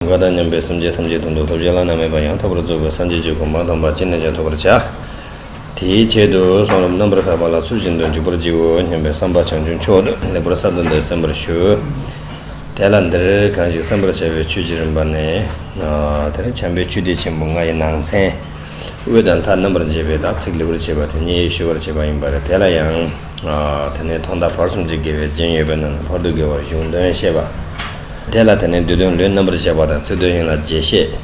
བ་དང་མཉམ་པའི་སེམས་ཅན་ཐམས་ཅད་དུག་མདོག་ཐོབ་བྱེད་བླ་ན་མེད་པ་ཡང་དག་པར་རྫོགས་པའི་སངས་རྒྱས་ཀྱི་གོ་འཕང་དང་བར་ཆད་ནས་ཀྱང་ཐོབ་པར་བྱ། དེའི་ཆེད་དུ་གསུང་རབ་རྣམ་པར་དག་པ་ལ་ཚུལ་བཞིན་དུ་འཇུག་པར་བགྱིའོ་སྙམ་པའི་བསམ་པ་བྱང་ཆུབ་མཆོག་ཏུ་ལེགས་པར་གསར་དུ་འདོད་གསན་པར་ཞུ། དེ་ལ་འདིར་གང་ཞིག་གསན་པར་བྱ་བའི་ཆོས་ཀྱི་རིམ་པ་ནི། དེར་བྱམས་པའི་ཆུ་སྡེ་ཆེན་པོ་ལྔ་ཡི་ནང་ཚན། དབུས་དང་མཐའ་རྣམ་པར་འབྱེད་པའི་དག་ཚིག་ལེགས་པར་བྱས་པ་དེ་ཉིད་ཞུ་བར་བྱེད་པ་ཡིན་པ་རེད་དེ་ལ་ཡང། དེ་ནས་ཐོག་མཐའ་བར་གསུམ་གྱི་དགེ་བའི་རྒྱན་ཡོད་པའི་ནང་ན་བར་དོའི་དགེ་བ་གཞུང་དོན་བཤད་པ། དེ་ལ་དེ་ནི་བསྡུས་དོན་ལུས་རྣམ་པར་བཤད་པ་དང་ཚིག་དོན་ཡིན་ལ་རྗེས་ཤེས།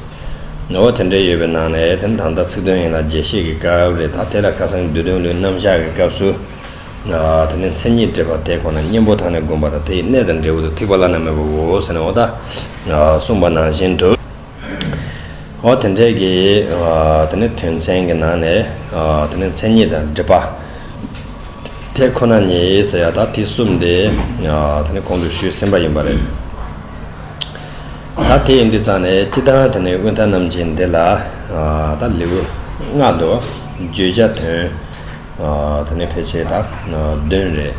ངོ་བོ་དེ་འདྲའི་ཡོད་པའི་ནང་ནས་དེ་ད་ལྟ་ཚིག་དོན་ཡིན་ལ་རྗེས་ཤེས་ཀྱི་སྐབས་རེ་དང་དེ་ལས་ཁ་སང་བསྡུས་དོན་ལུས་རྣམ་གཞག་གི་སྐབས་སུ། དེ་ནི་མཚན་ཉིད་འདྲེས་པ་དེ་ཁོ་ན་གཉེན་པོ་དང་ནི་བསྒོམ་པ་དང་དེ་ཡི་གནས་དང་འབྲས་བུ་དུ་ཐིག་པ་བླ་ན་མེད་པའོ་ཟེར་ནས་འོག་ད་གསུངས་པ་ནང་བཞིན་དུ། འོ་དེ་འདྲའི་གི་དེ་ནི་དོན་ཚན་གྱི་ནང་ནས་དེ་ནི་མཚན་ཉིད་དང་སྒྲིབ་པ་དེ་ཁོ་ན་ཉིད་ཟེར་ཡག་ད་དེ་གསུམ་དེ་དེ་ནི་གོང་དུ་ཞུས་ཟིན་པ་ཡིན་པ་རེད། ད་དེ་ཡིན་དུས་ཙང་ནས་སྤྱི་དང་དེ་ནི་དབུས་མཐའ་རྣམ་ཅན་འདི་ལ་ད་ལེའུ་ལྔ་དུ་བརྗོད་བྱ་དོན། ད་ནི་ཕལ་ཆེར་དང་དོན་རེད།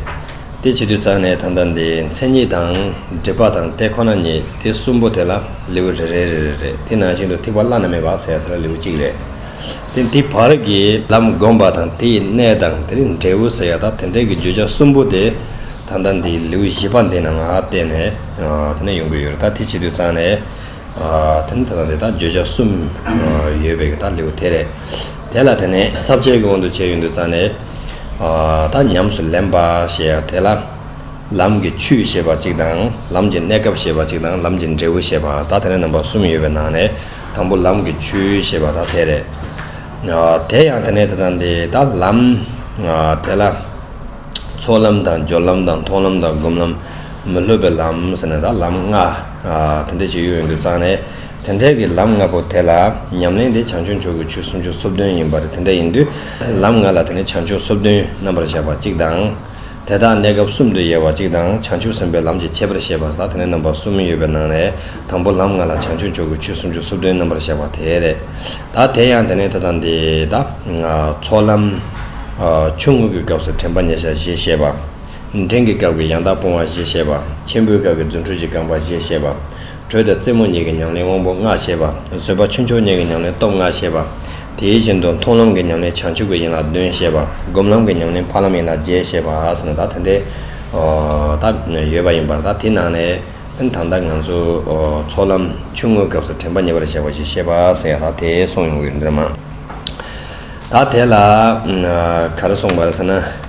དེ་བྱེད་དུས་རྩ་ནས་ད་ལྟ་འདིའི་མཚན་ཉིད་དང་སྒྲིབ་པ་དང་ལྟས་ཁོ་ན་ཉིད་དེ་གསུམ་པོ་དེ་ལ་ལེའུ་རེ་རེ་རེ་རེ་རེད་དེ་ནང་བཞིན་དུ་ཐིག་པ་བླ་ན་མེད་པ་ཟེར་བ་དེ་ལ་ལེའུ་གཅིག་རེད། དེ་འདི་བར་གྱི་ལམ་བསྒོམ་པ་དང་དེ་ཡི་གནད་དང་དེ་རིང་འབྲས་བུ་ཟེར་བ་དང་དེ་འབྲས་ཀྱི་བརྗོད་བྱ་གསུམ་པོ་དེ་ད་ལྟ་འདིའི་ལེའུ་བཞི་པ་འདི་ནང་བལྟས་ནས་ད་ནི་ཡོང་གི་ཡོད་རེད་ད་དེ་བྱེད་དུས་རྩ་ནས། དེ་ནི་དེ་དང་དེ་དག་བརྗོད་བྱ་གསུམ་ཡོད་པའི་དག་ལེའུ་དེ་རེད། དེ་ལ་དེ་ནི་ས་བཅད་ཀྱི་དབང་དུ་བྱས་ཡོད་འདུག་རྩ་ནས། དག་ཉམས་སུ་ལེན་པ་ཞེས་ཡང་དེ་ལ། ལམ་གྱི་ཆུས་ཞེས་པ་གཅིག་དང་ལམ་གྱི་གནས་སྐབས་ཞེས་པ་གཅིག་དང་ལམ་གྱི་འབྲས་བུ་ཞེས་པ་དག་དེ་ནི་རྣམ་པ་གསུམ་ཡོད་པའི་ནང་ནས་དང་པོ་ལམ་གྱི་ཆུས་ཞེས་པ་དག་དེ་རེད། དེ་ཡང་དེ་ནི་དེ་དང་དེ་དག་ལམ། དེ་ལ། ཚོགས་ལམ་དང་སྦྱོར་ལམ་དང་མཐོང་ལམ་དང་སྒོམ་ལམ། མི་སློབ་པའི་ལམ་ཟེར་ནས་དག་ལམ་ལྔ། དེ་འདྲའི་བྱེད་ཡུལ་ཡོད་འདུག་ཙང་ནས་དེ་འདྲའི་གི་ལམ་ལྔ་པོ་དེ་ལ་ཉམས་ལེན་དེ་བྱང་ཆུབ་མཆོག་གི་ཆོས་སུམ་ཅུ་སོ་བདུན་ཡིན་པར་དེ་འདྲ་ཡིན་དུས་ལམ་ལྔ་ལ་དེ་ནས་བྱང་ཆུབ་སོ་བདུན་རྣམ་པར་གཞག་པ་གཅིག་དང། དེ་དག་གནས་སྐབས་གསུམ་དུ་དབྱེ་བ་གཅིག་དང་བྱང་ཆུབ་སེམས་དཔའི་ལམ་གྱི་ཁྱད་པར་བཤད་པ་དང་དེ་ནས་རྣམ་པ་གསུམ་ཡོད་པའི་ནང་ནས་དང་པོ་ལམ་ལྔ་ལ་བྱང་ཆུབ་མཆོག་གི་ཆོས་སུམ་ཅུ་སོ་བདུན་རྣམ་པར་གཞག་པ་དེ་རེད་ད་དེ་ཡང་དེ་ནས་དེ་དང་དེ་དང། ཚོགས་ལམ། ཆུང་ངུ་གི་སྐབས་སུ་དྲན་པ་ཉེ་ཆར་ཞེས་བཤད་པ། འབྲིང་གི་སྐབས་ཀྱི་ཡང་དག་སྤོང་བ་བཞི་བཤད་པ། ཆེན་པོའི་སྐབས་ཀྱི་རྫུ་འཕྲུལ་གྱི་རྐང་པ་བཞི་བཤད་པ། དྲོད་དང་རྩེ་མོ་གཉིས་ཀྱི་ཉམས་ལེན་དབང་པོ་ལྔ་བཤད་པ། བཟོད་པ་ཆུ་མཆོག་གཉིས་ཀྱི་ཉམས་ལེན་སྟོབས་ལྔ་བཤད་པ། དེ་བཞིན་དུ་མཐོང་ལམ་གྱི་ཉམས་ལེན་བྱང་ཆུབ་ཀྱི་ཡན་ལག་བདུན་བཤད་པ། སྒོམ་ལམ་གྱི་ཉམས་ལེན་འཕགས་ལམ་ཡན་ལག་བརྒྱད་བཤད་པ། ཟེར་ན་ད་དེ་འདྲའི་དག་ཡོད་པ་ཡིན་པར་ད་དེ་ནང་ནས་ཨན་ད་ལྟ་ང་ཚོ་ཚོགས་ལམ་ཆུང་ངུའི་སྐབས་སུ་དྲན་པ་ཉེ་བར་བཞག་པ་བཞི་བཤད་པ་ཟེར་ཡང་ད་དེ་སོང་ཡོང་གི་ཡོད་འདོད་མ་རེད། ད་དེ་ལ་ག་རེ་གསུངས་པ་རེད་ཟེར་ན།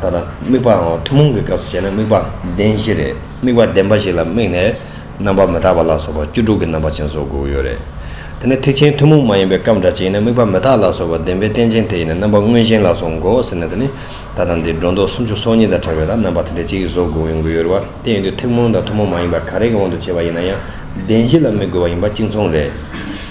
ད་ལྟ་དམིགས་པའང་ཐུན་མོང་གི་སྐབས་སུ་བྱས་ན་དམིགས་པ་བདེན་བཞི་རེད། དམིགས་པ་བདེན་པ་ཞིག་ལ་དམིགས་ནས་རྣམ་པར་མི་རྟག་པ་ལ་སོགས་པ་བཅུ་དྲུག་གི་རྣམ་པ་ཅན་བཟོ་དགོས་ཀྱི་ཡོད་རེད། དེ་ནས་ཐེག་ཆེན་ཐུན་མོང་མ་ཡིན་པའི་སྐབས་འདྲ་ཅན་ཡིན་ན་དམིགས་པ་མི་རྟག་ལ་སོགས་པ་བདེན་པའི་རྟེན་ཅན་དེ་ཡིན་ན་རྣམ་པ་དངོས་གཞན་ལ་སོགས་འགོག་ཟེར་ན་དེ་ནི་ད་ལྟ་འདིར་སྒྲོ་འདོགས་སུམ་ཅུ་སོ་གཉིས་དང་གྲགས་པའི་དག་རྣམ་པ་དེ་འདྲ་གཅིག་བཟོ་དགོས་ཡོང་གི་ཡོད་རེད་བ། དེ་ཡིན་དུས་ཐེག་མོང་དང་ཐུན་མོང་མ་ཡིན་པ་ག་རེ་གི་དབང་དུ་བྱས་པ་ཡིན་ན་ཡང་བདེན་བཞི་ལ་དམིགས་དགོས་པ་ཡིན་པ་གཅིག་མཚུངས་རེད།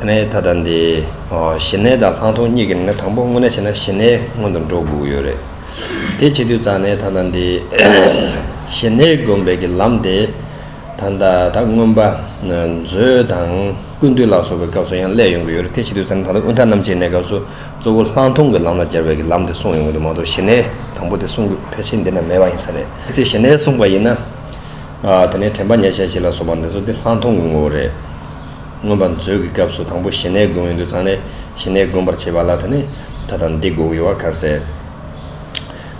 གནས་ད་ལྟ་འདི། ཞི་གནས་དང་ལྷག་མཐོང་གཉིས་ཀྱི་ནང་ན་དང་པོ་དངོས་གནས་བྱས་ན་ཞི་གནས་སྔོན་དུ་འགྲོ་དགོས་ཀྱི་ཡོད་རེད། དེ་བྱེད་དུས་རྩ་གནས་ད་ལྟ་འདི། ཞི་གནས་སྒོམ་པའི་གི་ལམ་དེ། ད་ལྟ་ད་སྔོན་པ། མཛོད་དང་ཀུན་འདུས་ལ་སོགས་པའི་སྐབས་སུ་ཡང་སླད་ཡོང་གི་ཡོད་རེད་དེ་བྱེད་དུས་རྩ་གནས་ད་ལྟ་དབུས་མཐའ་རྣམ་འབྱེད་གནས་སྐབས་སུ་གཙོ་བོ་ལྷག་མཐོང་གི་ལམ་ལ་སྦྱར་བའི་གི་ལམ་དེ་གསུངས་ཡོང་གི་འདུག་མ་གཏོགས་ཞི་གནས་དང་པོ་དེ་གསུང་དགོས་ཕལ་ཆེར་འདི་ན་མེད་པ་ཡིན་ས་རེད། གལ་སྲིད་ཞི་གནས་གསུངས་པ་ཡིན་ན། དེ་ནས་དྲན་པ་ཉེས་བྱས་བྱེད་ལ་སོགས་པ་འདི་ཚོ་དེ་ལྷག་མཐོང་གི་ངོ་བོ་རེད། མངོན་པར་མཛོད་ཀྱི་སྐབས་སུ་དང་པོ་ཞི་གནས་དགོན་འོད་འདུ་ཚང་ལས་ཞི་གནས་དགོན་པར་བྱེད་པ་ལ་ད་ནི་ད་དང་འདི་དགོས་ཡོད་བ་གར་ཟེར།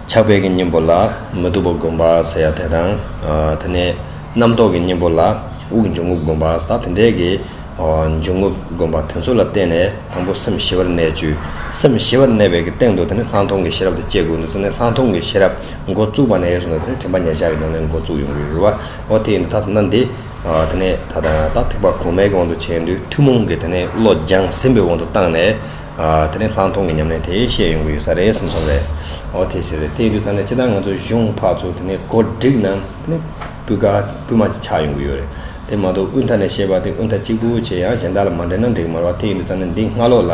ཕྱག་དཔེ་གྱི་སྙིང་པོ་ལ་མི་སྡུག་པ་དགོན་པ་ཟེར་ཡ་དེ་དང། ད་ནི་རྣམ་རྟོག་གི་སྙིང་པོ་ལ་དབུགས་འབྱུང་ངུབ་དགོན་པ་ཟེར་ད་དེ་འདྲའི་གི་འབྱུང་ངུབ་དགོན་པ་དེ་ཚོ་ལ་བརྟེན་ནས་དང་པོ་སེམས་ཞི་བར་གནས་བཅུ་སེམས་ཞི་བར་གནས་པའི་གི་སྟེང་དུ་ད་ནི་ལྷག་མཐོང་གི་ཤེས་རབ་དང་བཅས་དགོས་འདུ་ཚང་ནས་ལྷག་མཐོང་གི་ཤེས་རབ་འགོ་བཙུགས་པ་ནས་ཡོད་སོང་ད་ནི་དྲན་པ་ཉག་ཆག་གི་ནང་ནས་འགོ་བཙུགས་ཡོང་གི་ཡོད་རུ་བ་འོ་དེ་ཡིན་དུ་ད་ད་ན་འདི། དེ་ནས་ད་ལྟ་ཡང་དག་ཐེག་པ་གོང་མའི་དབང་དུ་བྱས་འདུག་ཐུན་མོང་གི་དེ་ནས་བློ་སྦྱང་ཟིན་པའི་དབང་དུ་བཏང་ནས། དེ་ནས་ལྷག་མཐོང་གི་ཉམས་ལེན་དེ་བཤད་ཡོང་གི་ཡོད་ས་རེད་བསམ་སོང་བས། འོ་དེ་ཟེར་བས་དེ་འདུག་ཚར་ནས་ཅི་ལྟར་ང་ཚོ་གཞུང་འཕགས་ཚོ་དེ་ནས་གོ་སྒྲིག་ནང་དེ་ནས་སྤུས་ཀ་སྤུས་མ་ཅིག་ཆགས་ཡོང་གི་ཡོད་རེད་དེ་མ་གཏོགས་དབུས་མཐའ་ནས་བཤད་པ་དེ་དབུས་མཐའ་གཅིག་པུ་བྱས་ཡང་གཞན་དག་ལ་མ་འབྲེལ་ན་འགྲིག་མ་རོགས་དེ་འདུག་ཚར་ནས་འདི་སྔ་ལོགས་ལ།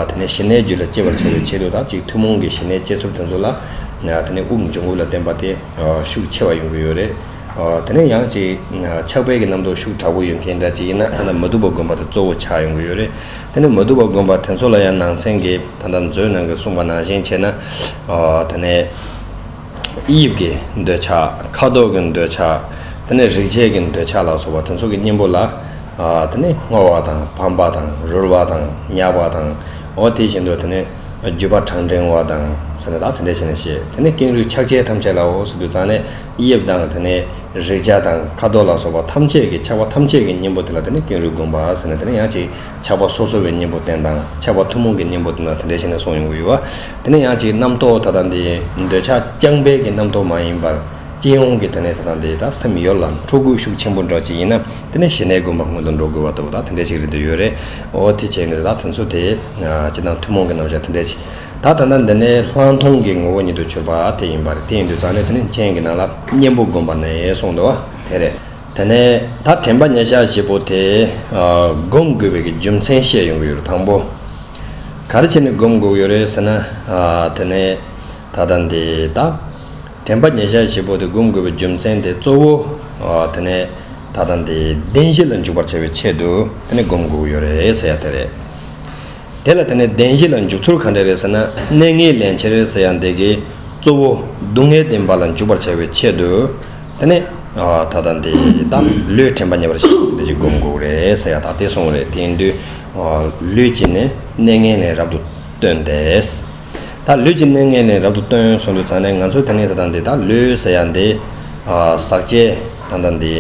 དེ་ནས་ཞི་གནས་རྒྱུད་ལ་སྐྱེ་བར་བྱ་བའི་ཆེད་དུ་དག་ཅིག་ཐུན་མོང་གི་ཞི་གནས་བསྐྱེད་ཚུལ་དེ་ཚོ་ལ། དེ་ནས་དབུགས་འབྱུང་ཁུག་ལ་བརྟེན་པ་དེ་ཤུགས་ཆེ་བ་ཡོང་གི་ཡོད་རེད། དེ་ནས་ཡང་ཅིག། ཆགས་པའི་གྱི་རྣམ་རྟོག་ཤུགས་དྲག་པོ་ཡོད་མཁན་འདྲ་ཅིག་ཡིན་ན་ད་ལྟ་མ་དུ་བ་དགོན་པ་དེ་གཙོ་བོ་ཆགས་ཡོང་གི་ཡོད་རེད། དེ་ནས་མ་དུ་བ་དགོན་པ་དེ་ཚོ་ལ་ཡང་ནང་ཚན་གྱི་ད་ལྟ་མཛོད་ནང་གི་གསུངས་པ་ནང་བཞིན་བྱས་ན། ད་ནས། དབྱིབས་ཀྱི་འདོད་ཆགས། ཁ་དོག་གི་འདོད་ཆགས། དེ་ནས་རིག་བྱེད་ཀྱི་འདོད་ཆགས་ལ་སོགས་པ་དེ་ཚོ་གི་གཉེན་པོ་ལ། དེ་ནས་སྔོ་བ་དང་བམ་པ་དང་རུལ་བ་དང་མྱགས་པ་དང། འོ་དེ་བཞིན་དུ་དེ་ནས་རྒྱུ་བ་གྲང་འགྲེང་བ་དང། ཟེར་ནས་ད་དེ་འདྲ་བྱས་ནས་བཤད། དེ་ནས་ཀེང་རུས་ཆགས་བྱེད་ཐམས་ཅད་ལའོ་ཟེར་དུས་ཙང་ནས། དབྱིབས་དང་དེ་ནས་རེག་བྱ་དང་ཁ་དོག་ལ་སོགས་པ་ཐམས་ཅད་ཀྱི་ཆགས་པ་ཐམས་ཅད་ཀྱི་གཉེན་པོ་དེ་ལ་དེ་ནི་ཀེང་རུས་བསྒོམ་པ་ཟེར་ནས་དེ་ནི་ཡང་ཅིག་ཆགས་པ་སོ་སོ་བའི་གཉེན་པོ་རྟེན་དང་ཆགས་པ་ཐུན་མོང་གི་གཉེན་པོ་དེ་དང་དེ་འདྲ་ཞིག་ནས་སོང་ཡོང་གི་ཡོད་བ། དེ་ནི་ཡང་ཅིག་རྣམ་རྟོག་ད་ལྟ་འདི་འདོད་ཆགས་རྐྱང་པས་ཀྱི་རྣམ་རྟོག་མ་ཡིན་པར་སྤྱི་ཡོངས་ཀྱི་དེ་ནས་ད་ལྟ་འདི་དག་སེམས་ཡོད་ལ་འཕྲོ་སྒུལ་ཤུགས་ཆེན་པོ་འདྲ་ཅིག་ཡིན་ན་དེ་ནི་ཞི་གནས་བསྒོམ་པ་སྔོན་དུ་འགྲོ་དགོས་བ་ལྟ་བུ་དག་དེ་འདྲ་ཞིག་རེད་འདོད་ཡོད་རེད་འོ་དེ་བྱས་ནས་ད་ལྟ་དོན་ཚོ་དེ་ཅི་དང་ཐུན་མོང་གི་རྣམ་བཞག་དེ་འདྲ་ཞིག། ད་ད་ནི་འདི་ནི་ལྷག་མཐོང་གི་ངོ་བོ་ཉིད་དུ་གྱུར་པ་དེ་ཡིན་པར་དེ་ཡིན་དུས་ཙང་ནི་དེ་ནི་སྤྱན་གྱི་ནང་ལ་གཉེན་པོ་བསྒོམ་པ་ནས་གསུངས་འདུག་དེ་རེད། དེ་ནས་ད་དྲན་པ་ཉེས་བྱ་བྱེད་པོ་དེས་བསྒོམ་དགོས་པའི་རྒྱུ་མཚན་བཤད་ཡོང་གི་ཡོད་རེད་དང་པོ། ག་རེ་བྱས་ནས་བསྒོམ་དགོས་ཀྱི་ཡོད་རེད་ཟེར་ན། དེ་ནི་ད་ལྟ་འདི་ད་དྲན་པ་ཉེས་བྱ་བྱེད་པོ་དེ་བསྒོམ་དགོས་པའི་རྒྱུ་མཚན་དེ་གཙོ་བོ། དེ་ནི་ད་ལྟ་འདི་བདེན་བཞི་ལ་འཇུག་པར་བྱ་བའི་ཆེད་དུ་དེ་ནི་བསྒོམ་དགོས་ཀྱི་ཡོད་རེད་ཟེར་ཡ་དེ་རེད། དེ་ལ་དེ་ནས་བདེན་བཞི་ལ་འཇུག་ཚུལ་ག་འདྲས་རེད་ཟེར་ན་གནས་ངན་ལེན་བྱེད་རེད་ཟེར་ཡང་འདེད་ཀི། གཙོ་བོ་སྡུག་བསྔལ་བདེན་པ་ལ་འཇུག་པར་བྱ་བའི་ཆེད་དུ། དེ་ནས། ད་ལྟ་འདི་དག་ལུས་དྲན་པ་ཉེ་བར་ཞི་བ་འདི་ཅི་སྒོམ་དགོས་རེད་ཟེར་ཡང་ད་དེ་སོང་རེད་དེ་ཡིན་དུས། ལུས་ཀྱི་ནི་གནས་ངན་ལེན་རབ་ཏུ་སྟོན་ཏེས། ད་ལུས་ཀྱི་གནས་ངན་ལེན་རབ་ཏུ་སྟོན་སོང་དུས་ཙང་ནས་ང་ཚོས་ད་ནི་ད་ལྟ་འདི་དག་ལུས་ཟེར་ཡང་འདི། ཟག་བཅས་ད་ལྟ་འདི་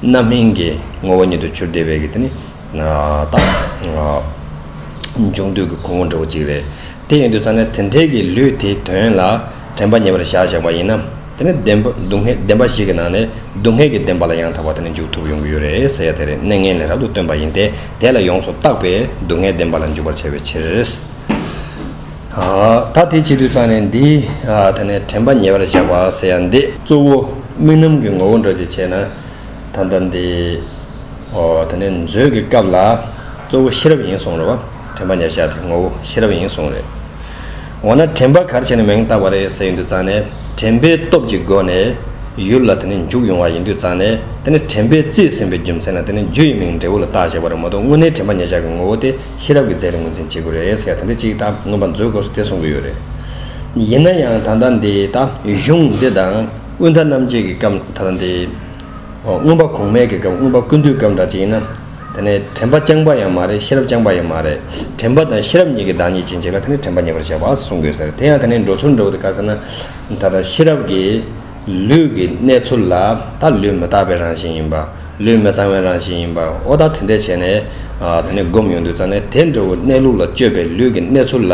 རྣམ་སྨིན་གྱི་ངོ་བོ་ཉིད་དུ་གྱུར་བདེ་བས་ཀི་དེ་ནི། དང། འབྱུང་འདོད་ཀྱི་ཁུར་བོ་འདྲ་བོ་གཅིག་རེད། དེ་ཡིན་དུས་ཙང་ནས་དེ་འཕྲལ་གྱི་ལུས་དེའི་དོན་ལ་དྲན་པ་ཉེ་བར་བཞག་བཞག་པ་ཡིན་ན། དེ་ནི་བདེན་པ་སྡུག་བསྔལ་བདེན་པ་ཞིག་གི་ནང་ནས་སྡུག་བསྔལ་གྱི་བདེན་པ་ལ་ཡང་དག་པར་དེ་ནི་འཇུག་ཐུབ་ཡོང་གི་ཡོད་རེད་ཟེར་ཡ་དེ་རེད་གནས་ངན་ལས་རབ་ཏུ་སྟོན་པ་ཡིན་ཏེ་དེ་ལ་ཡོངས་སུ་བརྟགས་པས་སྡུག་བསྔལ་བདེན་པ་ལ་འཇུག་པར་བྱ་བའི་ཕྱིར། ད་དེ་བྱེད་དུས་ཙང་ནས་འདི་དེ་ནས་དྲན་པ་ཉེ་བར་བཞག་པ་ཟེར་ཡ་འདི་གཙོ་བོ་རྨི་ལམ་གྱི་ངོ་བོ་འདྲ་ཅིག་བྱས་ན། ད་ལྟ་འདི། ཨོ། དེ་ནས་མཛོད་ཀྱི་སྐབས་ལ། གཙོ་བོ་ཤེས་རབ་ཡིན་གསུངས་རེད་བ། དྲན་པ་ཉེར་བཞག་དེ་ངོ་བོ་ཤེས་རབ་ཡིན་གསུངས་རེད། འོ་ན་དྲན་པ་གར་བྱས་ནས་མིང་བཏགས་པ་རེད་ཟེར་ཡིན་དུས་ཙང་ནས་དྲན་པའི་སྟོབས་ཀྱི་སྒོ་ནས། ཡུལ་ལ་དེ་ནས་འཇུག་ཡོང་བ་ཡིན་དུས་ཙང་ནས་དེ་ནི་དྲན་པས་བརྩིས་ཟིན་པའི་རྒྱུ་མཚན་ལ་དེ་ནི་རྒྱུ་ཡི་མིང་འབྲས་བུ་ལ་བཏགས་ཅེས་པ་རེད་མ་གཏོགས་དངོས་གནས་དྲན་པ་ཉེར་བཞག་གི་ངོ་བོ་དེ་ཤེས་རབ་ཀྱི་རྫས་རེད་ངོས་འཛིན་བྱེད་དགོས་རེད་ཟེར་ཡ་དེ་འདྲ་གཅིག་ད་མངོན་པར་མཛོད་སྐབས་སུ་དེ་གསུངས་གི་ཡོད་རེད། ཡིན་ན་ཡང་ད་ལྟ་འདི་ད་གཞུང་འདི་དང། དབུས་མཐའ་རྣམ་འབྱེད་ཀྱི་སྐབས་མཐའ་རམ་དེའི། མངོན་པ་གོང་མས་ཀྱི་སྐབས་མངོན་པ་ཀུན་འདུས་སྐབས་འདྲ་ཅིག་ཡིན་ན། དེ་ནི་དྲན་པ་རྐྱང་པ་ཡང་མ་རེད་ཤེས་རབ་རྐྱང་པ་ཡང་མ་རེད། དྲན་པ་དང་ཤེས་རབ་གཉིས་ཀྱི་བདག་ཉིད་ཅན་ཅིག་ལ་དེ་ནི་དྲན་པ་ཉེ་བར་གཞག་པ་གསུང་དགོས་ཟེར་དེ་ཡང་དེ་ནི་འགྲོ་ཚུལ་འདྲ་བོ་འདུག་ག་ཟེར་ན། ད་ལྟ་ཤེས་རབ་ཀྱིས་ལུས་ཀྱི་གནས་ཚུལ་ལ་ད་ལུས་མི་རྟག་པའི་རང་བཞིན་ཡིན་པ། ལུས་མི་གཙང་བའི་རང་བཞིན་ཡིན་པ་འོ་ད་དེ་འདྲས་བྱས་ནས། དེ་ནི་བསྒོམ་ཡོང་དུས་ཙང་ནས་དེ་འདྲ་བོའི་གནས་ལུགས་ལ་དཔྱོད་པའི་ལུས་ཀྱི་གནས་ཚུལ་ལ།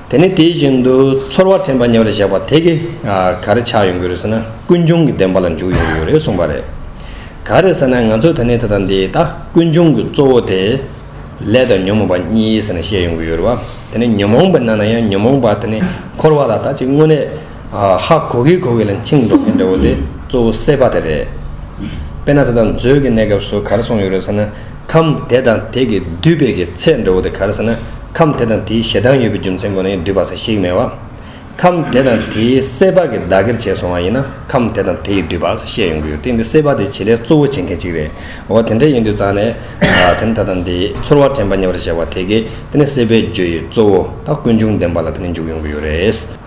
དེ་ནི་དེ་བཞིན་དུ་ཚོར་བ་དྲན་པ་ཉེ་བར་བཞག་པ་དེ་གས་གར་ཆགས་ཡོང་གི་རེད་ཟེར་ན་ཀུན་འབྱུང་གི་བདེན་པ་ལ་འཇུག་ཡོང་གི་ཡོད་རེད་གསུངས་པ་རེད། ག་རེད་ཟེར་ན་ང་ཚོས་ད་ནི་དེ་དང་འདི་ལྟ་ཀུན་འབྱུང་གི་གཙོ་བོ་དེ། ལས་དང་ཉོན་མོངས་པ་གཉིས་ཟེར་ནས་བཤད་ཡོང་གི་ཡོད་རེད་བ། དེ་ནི་ཉོན་མོངས་པའི་ནང་ན་ཡང་ཉོན་མོངས་པ་དེ་ནི་འཁོར་བ་ལ་ད་ཅིག་དངོས་གནས། ཧ་གོ་གི་གོ་གི་ལ་མཆིམས་མདོག་གི་འདྲ་བོ་དེ་གཙོ་བོ་སེ་པ་དེ་རེད། དཔེར་ན་ད་ལྟ་མཛོད་ཀྱི་གནས་སྐབས་སུ་གར་སོང་ཡོད་རེད་ཟེར་ན་ཁམས་དེ་དང་དེ་གི་བསྡུས་པའི་གི་ཚད་འདྲ་བོ་དེ་གར་ཟེར་ན་ཁམས་དེ་དང་དེའི་ཞེ་སྡང་ཡོད་པའི་རྒྱུ་མཚན་ཁོ་ན་ཡིན་བསྡུས་པ་ས་ཞིག་མེད་བ། ཁམས་དེ་དང་དེའི་སེ་པ་གི་བདག་གིར་བྱས་སོང་བ་ཡིན་ན་ཁམས་དེ་དང་དེ་ཡི་བསྡུས་པ་ས་བཤད་ཡོང་གི་ཡོད་དེ་འདི་སེ་པ་དེ་བྱེད་ལས་གཙོ་བོ་བྱེད་མཁན་གཅིག་རེད་འོ་དེ་འདྲ་ཡིན་དུས་ཙང་ནས་དེ་ནི་ད་ལྟ་འདི་ཚོར་བ་དྲན་པ་ཉེ་བར་བཞག་པ་དེ་གས་དེ་ནི་སེ་པའི་རྒྱུ་ཡི་གཙོ་བོ་ད་ཀུན་འབྱུང་བདེན་པ་ལ་དེ་ནི་འཇུག་ཡོང་གི་ཡོད་རེད།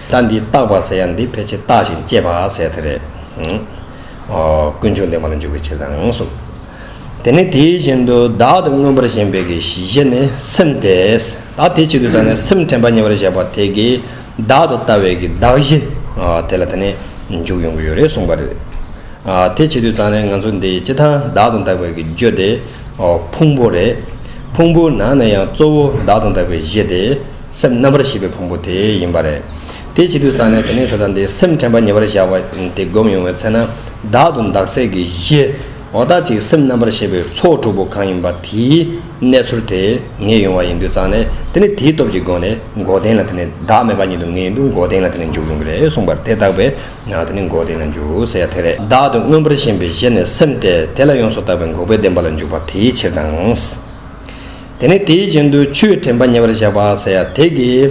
ད་འདི་རྟག་པ་ཟེར་ཡང་འདི་ཕལ་ཆེར་རྟག་ཅིང་སྐྱེས་པ་ཟེར་ཐལ་རེད། ཀུན་འབྱུང་བདེན་པ་ལ་འཇུག་པའི་ཕྱིར་དང་གསུམ། དེ་ནི་དེའི་བཞིན་དུ་བདག་ཏུ་མངོན་པར་ཞེན་པའི་གེགས་བཞི་ཤེས་ནས་སེམས་དེ་བདག་དེ་གཅིག་ཏུ་བསམས་ནས་སེམས་དྲན་པ་ཉེ་བར་གཞག་པ་དེ་གེགས་བདག་ཏུ་ལྟ་བའི་གེགས་བདག་བཞི་དེ་ལ་ད་ནི་འཇུག་ཡོང་གི་ཡོད་རེད་གསུངས་པ་རེད། དེ་བྱེད་དུས་ཙང་ནས་ང་ཚོ་འདི་སྤྱི་དང་བདག་ཏུ་འདག་པའི་གེགས་བརྗོད་དེ་ཕུང་པོ་རེད། ཕུང་པོའི་ནང་ནས་ཡང་གཙོ་བོ་བདག་ཏུ་འདག་པའི་གཞི་དེ། སེམས་རྣམ་པར་ཤེས་པའི་ཕུང་པོ་དེ་ཡིན་པ་རེད། དེ་ཕྱི་དུས་གཙང་ནས་དེ་ནས་ད་ལྟ་འདི་སེམས་དྲན་པ་ཉེ་བར་བཞག་པ་དེ་བསྒོམ་ཡོང་བའི་ཚེ་ན། བདག་ཏུ་འདག་སྲེད་ཀྱི་གཞི། འོ་ད་ཅིག་སེམས་རྣམ་པར་ཤེས་པའི་ཚོགས་དྲུག་པོ་གང་ཡིན་པ་དེའི་གནས་ཚུལ་དེ་ངེས་ཡོང་བ་ཡིན་དུས་གཙང་ནས་དེ་ནི་དེའི་སྟོབས་ཀྱི་སྒོ་ནས་མགོ་བདེན་ལ་དེ་ནི་བདག་མེད་པ་ཉིད་དུ་ངེས་ཡིན་དུས་མགོ་བདེན་ལ་དེ་ནི་འཇུག་ཡོང་གི་རེད་གསུངས་པར་དེ་བརྟགས་པས་ན་དེ་ནི་མགོ་བདེན་ལ་འཇུག་ཟེར་ཡ་དེ་རེད། བདག་ཏུ་མངོན་པར་ཞེན་པའི་གཞི་ནི་སེམས་ཏེ་དེ་ལ་ཡོངས་སུ་བརྟགས་པའི་འགོག་པའི་བདེན་པ་ལ་འཇུག་པ་དེའི་ཕྱིར་དང། དེ་ནས་དེའི་བཞིན་དུ་ཆུའི་དྲན་པ་ཉེ་བར་བཞག་པ་ཟེར་ཡ་དེ་གི།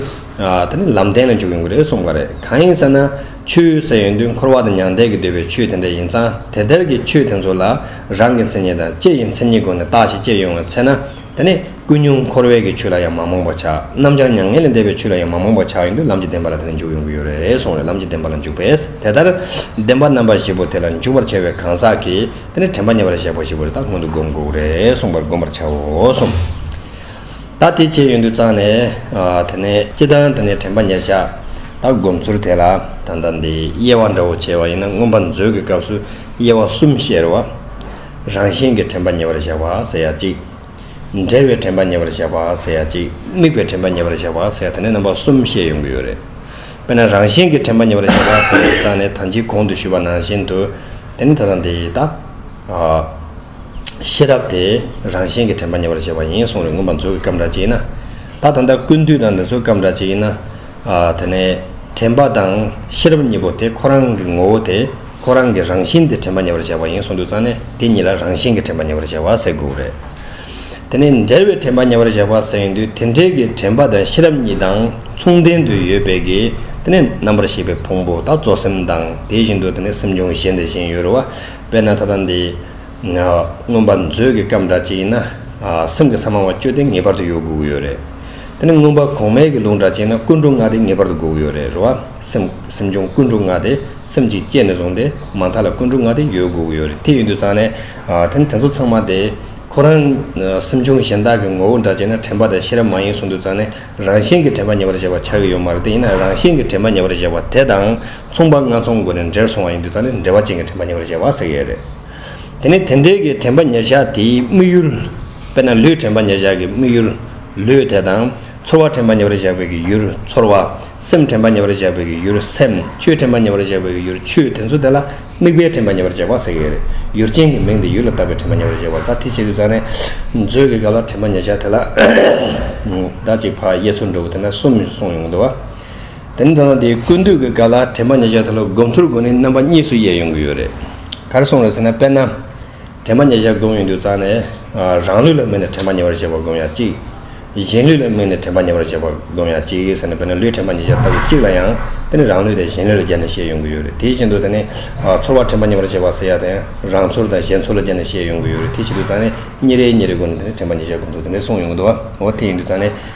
དེ་ནི་ལམ་བསྟན་ལ་འཇུག་ཡོང་གི་རེད་གསུངས་པ་རེད་གང་ཡིན་ཟེར་ན། ཆུའི་ཟེར་ཡོན་དུས་འཁོར་བ་དང་མྱང་འདས་ཀྱི་འདོད་པའི་ཆུ་དེ་འདྲ་ཡིན་ཙང་དེ་ལྟར་གྱི་ཆུ་དེ་ཚོ་ལ་རང་གི་མཚན་ཉིད་དང་ལྕེ་ཡི་མཚན་ཉིད་སྒོ་ནས་བརྟགས་ཤིང་དཔྱད་ཡོང་བའི་ཚེ་ན། དེ་ནི་ཀུན་ཉུང་འཁོར་བས་ཀྱི་ཆུ་ལ་ཡང་མ་རྨོངས་པར་བྱ། རྣམ་བྱང་མྱ་ངན་ལས་འདས་པའི་ཆུ་ལ་ཡང་མ་རྨོངས་པར་བྱ་ཡོན་དུས་ལམ་གྱི་བདེན་པ་ལ་དེ་ནས་འཇུག་ཡོང་གི་ཡོད་རེད་གསུངས་རེད་ལམ་གྱི་བདེན་པ་ལ་འཇུག་པས་དེ་ལྟར་བདེན་པ་རྣམ་པ་བཞི་པོ་དེ་ལ་འཇུག་པར་བྱ་བའི་གང་ཟག་གིས། དེ་ནི་དྲན་པ་ཉེ་བར་གཞག་པ་ཞིག་གོ་ད་སྔོན་དུ་བསྒོམས་འགོག་རེ་གསུངས་པར་བསྒོམ་པར་བྱའོ་གསུངས། ད་དེ་བྱས་ཡུན་དུ་བརྩང་ནས། དེ་ནས་སྤྱི་དང་དེ་ནས་དྲན་པ་ཉེར་བཞག། ད་བསྒོམ་ཚུལ་དེ་ལ་ད་ལྟ་འདི་དབྱེ་བ་འདྲ་བོ་བྱས་པ་ཡིན་ན་མངོན་པར་མཛོད་ཀྱི་སྐབས་སུ་དབྱེ་བ་གསུམ་བཤད་རོལ་བ། རང་བཞིན་གྱི་དྲན་པ་ཉེ་བར་བཞག་པ་ཟེར་ཡ་གཅིག། འབྲལ་བའི་དྲན་པ་ཉེ་བར་བཞག་པ་ཟེར་ཡ་གཅིག་དམིགས་པའི་དྲན་པ་ཉེ་བར་བཞག་པ་ཟེར་ཡ་དེ་ནས་རྣམ་པ་གསུམ་བཤད་ཡོང་གི་ཡོད་རེད། དཔེར་ན་རང་གཞན་གྱི་དྲན་པ་ཉེ་བར་བཞག་པ་ཟེར་བའི་རྩ་ནི་ད་ཅིའི་གོང་དུ་ཞུས་པ་ནང་བཞིན་དུ། དེ་ནི་ད་དང་དེ་ཡི་དང། ཤེས་རབ་དེ་རང་གཞན་གྱི་དྲན་པ་ཉེ་བར་བཞག་པ་ཡིན་གསུངས་རེད་ངོ་མ་མཛོད་ཀྱི་སྐབས་འདྲ་གཅིག་ཡིན་ན། ད་ད་ལྟ་ཀུན་བཏུས་དང་འདི་ཚོའི་སྐབས་འདྲ་གཅིག་ཡིན་ན། དེ་ནས་དྲན་པ་དང་ཤེས་རབ་གཉིས་པོ་དེ་ཁོ་རང་གི་ངོ་བོ་དེ་ཁོ་རང་གི་རང་བཞིན་དེ་དྲན་པ་ཉེ་བར་བྱས་པ་ཡིན་གསུངས་འདུག་ཙང་ནས་དེ་གཉིས་ལ་རང་བཞིན་གྱི་དྲན་པ་ཉེ་བར་བྱས་པ་ཟེར་དགོས་རེད། དེ་ནས་འབྲེལ་བའི་དྲན་པ་ཉེ་བར་བྱས་པ་ཟེར་ཡོང་དུས་དེ་འབྲེལ་གྱི་དྲན་པ་དང་ཤེས་རབ་གཉིས་དང་མཚུངས་ལྡན་དུ་ཡོད་པས་ཀྱི་དེ་ནས་རྣམ་པར་ཤེས་པའི་ཕུང་པོ་དག་གཙོ་སེམས་དང་དེ་བཞིན་དུ་དེ་ནས་སེམས་བྱུང་གཞན་དེ་བཞིན་ཡོད་རུང་བ་དཔེར་ན་ད་ལྟ་འདི་མངོན་པར་མཛོད་ཀྱི་སྐབས་འདྲ་ཅིག་ཡིན་ན། སེམས་ཀྱི་ས་མང་བ་བཅོས་ཏེ་ངེས་པར་དུ་ཡོད་དགོས་ཀྱི་ཡོད་རེད། དེ་ནི་མངོན་པར་གོང་མའི་གི་ལུགས་འདྲ་ཅིག་ན་ཀུན་འགྲོ་ལྔ་དེ་ངེས་པར་དུ་དགོས་ཀྱི་ཡོད་རེད། རེ་བ། སེམས་སེམས་བྱུང་ཀུན་འགྲོ་ལྔ་དེ་སེམས་ཀྱིས་བསྐྱེད་ནས་བཟུང་སྟེ་མ་མཐའ་ལ་ཀུན་འགྲོ་ལྔ་དེ་ཡོད་དགོས་ཀྱི་ཡོད་རེད། དེ་ཡོད་དུས་ཙང་ནས། དེ་ནི་དེ་ཚོ་ཚང་མ་དེ། ཁོ་རང། སེམས་བྱུང་གཞན་དག་གི་ངོ་བོ་འདྲ་ཅིག་ན་དྲན་པ་དང་ཤེས་རབ་མ་ཡིན་གསུངས་དུས་ཙང་ནས་རང་བཞིན་གྱི་དྲན་པ་ཉེ་བར་གཞག་པ་ཆགས་ཀྱི་ཡོད་མ་རེད་དེ་ཡིན་ན་རང་བཞིན་གྱི་དྲན་པ་ཉེ་བར་གཞག་པ་དེ་དང་མཚུངས་པ་ལྔ་ཚོགས་འགོ་ནས་འདྲེར་སོང་བ་ཡིན་དུས་ཙང་ནས་འདྲེ་བ་ཅན་གྱི་དྲན་པ་ཉེ་བར་གཞག་པ་ཟེར་གྱི་ཡོད་རེད། དེ་ནི་དེ་འབྲེལ་གྱི་དྲན་པ་ཉེར་བཞག་དེའི་དམིགས་ཡུལ། དཔེར་ན་ལུས་དྲན་པ་ཉེར་བཞག་གི་དམིགས་ཡུལ། ལུས་དེ་དང། ཚོར་བ་དྲན་པ་ཉེ་བར་བཞག་པའི་གི་ཡུལ་ཚོར་བ། སེམས་དྲན་པ་ཉེ་བར་བཞག་པའི་གི་ཡུལ་སེམས། ཆོས་དྲན་པ་ཉེ་བར་བཞག་པའི་གི་ཡུལ་ཆོས་དེ་ཚོ་དེ་ལ་དམིགས་པའི་དྲན་པ་ཉེ་བར་བཞག་པ་ཟེར་གི་རེད། ཡུལ་ཅན་གྱི་མིང་དེ་ཡུལ་ལ་བཏགས་པའི་དྲན་པ་ཉེ་བར་བཞག་པ་ད་ཐེ་བྱེད་དུ་བཅངས་ནས། མཛོད་ཀྱི་སྐབས་ལ་དྲན་པ་ཉེར་བཞག་དེ་ལ། ཟླ་གཅིག་བར་ཡེ་ཚོར་འགྲོ་བ་དེ་ན་གསུམ་གསུངས་ཡོང་གི་འདུག་བ། དེ་ནི་ད་དུང་དེའི་ཀུན་བཏུས་ཀྱི་ག་ལ་དྲན་པ་ཉེ་ཆར་ད་ལོ་སྒོམ་ཚུལ་སྒོ་ནས་རྣམ་པ་གཉིས་སུ་དབྱེ་ཡོང་གི་ཡོད་རེད། གར་སོང་རེད་ཟེར་ན་དཔེར་ན། དྲན་པ་ཉེ་ཆར་སྒོམ་ཡོང་དུས་རྩ་ནས། རང་ལུས་ལ་དམིགས་ནས་དྲན་པ་ཉེ་བར་བྱེད་པར་སྒོམ་ཡང་གཅིག། གཞན་ལུས་ལ་དམིགས་ནས་དྲན་པ་ཉེ་བར་བྱེད་པར་སྒོམ་ཡང་གཅིག་ཟེར་ནས་དཔེར་ན་ལུས་དྲན་པ་ཉེ་ཆར་ལྟ་བུ་གཅིག་ལ་ཡང། དེ་ནི་རང་ལུས་དང་གཞན་ལུས་ལ་སྦྱར་ནས་ཤེས་ཡོང་གི་ཡོད་རེད་དེའི་བཞིན་དུ་ད་ནི། ཚོར་བ་དྲན་པ་ཉེ་བར་བྱེད་པ་ཟེར་ཡ་དང་རང་ཚོར་དང་གཞན་ཚོར་ལ་སྦྱར་ནས་ཤེས་ཡོང་གི་ཡོད་རེད་དེ་བཞིན་དུ་རྩ་ནས། ཉིན་རེའི་ཉིན་རེའི་སྒོ་ནས་དེ་ནི་དྲན་པ་ཉེ་ཆར་སྒོམ་ཚུལ་དེ་འདྲའི་གསུངས་ཡོང་གི་འདུག་བ་འོ་དེ་ཡིན་དུས་རྩ་ནས།